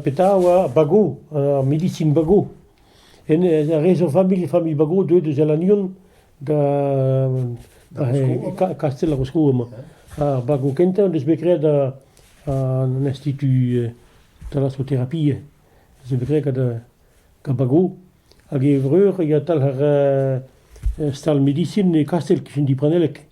Petra a oa Bago, ar medisin Bago. Re zo familh, familh Bago deuet eus Alannion da Kastell ar Voscoù emañ. Ar Bago kentañ en deus bet graet an institut thalassothérapie. Zo bet graet gant Bago. Hag e vreur e talc'her stal medisin e Kastell, kichen Dipranellek.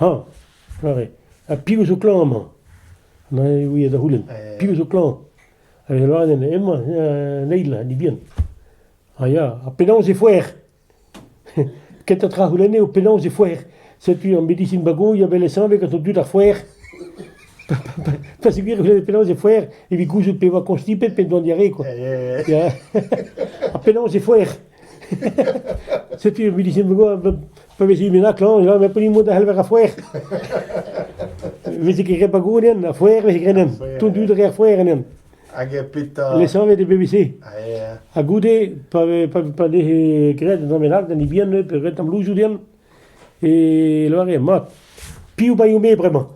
hañ! aze, ha piv zo klañv amañ? Neuze e ouie da c'houlenn, piv zo klañv? Hag e lâre din, hemañ, an eil, an hini-bihan. Ha ya, ha penaos e foer? Kentañ tra a c'houlenne eo penaos e foer. Setu ar medisin bagoilh a vele sañvet gant an dud ar foer. Pa zigouez e c'houlenne penaos e foer evit gouzout pe e oa konstipet pe doan diarree kwa. Ya, ha penaos e foer? Setu ar medisin bagoilh Pa vez hu bennak klañv, ja, met pa ni mod a c'heller ar foer. Veze ket re pa gouren, ar foer veze grenen. Tout dud re ar foer enen. Hag e peta... Lesavet e BBC. Ha goude, pa, pa, pa ne gred an amenak, da ni bien, pe red am loujou den, e loare, mat, piou baio me bremañ.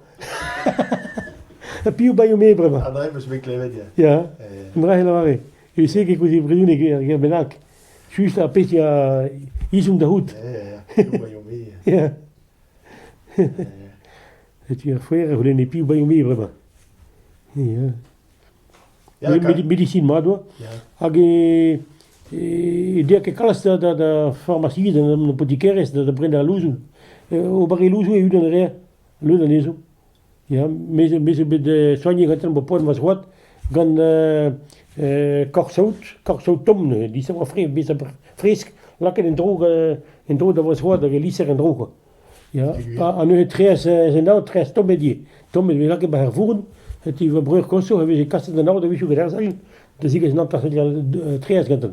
piou baio me bremañ. André, meus bet klevet, ya. Ya, André, e loare. E se ke kouzit brioun e bennak. Just ar pezh a ezhomm da c'hoût. Ya. Setu ar foer a c'houlenne piv baio-me bremañ. Ya. Ya, med- medisin mat oa. Ya. Hag e e dea ket kalz da da da farmasiz an apotikerezh da da brenañ al louzoù. E, O barre louzoù e-unan a reer leun anezho. Ya, me me zo bet soignet gantañ bo poazh ma zroad gant korsaout, korsaout tomm neuze, lisañ fresk, lisañ fresk lakaet en-dro en-dro da va zroad hag e liser en-dro kwa. Ya, ha neuze treez en aod, treez tommet ivez, tommet e vez lakaet 'ba ar vourn, setu va breur koñsour a veze kaset an aod a-wechoù gant ar sal da zigas un hanter seurt treez gantañ.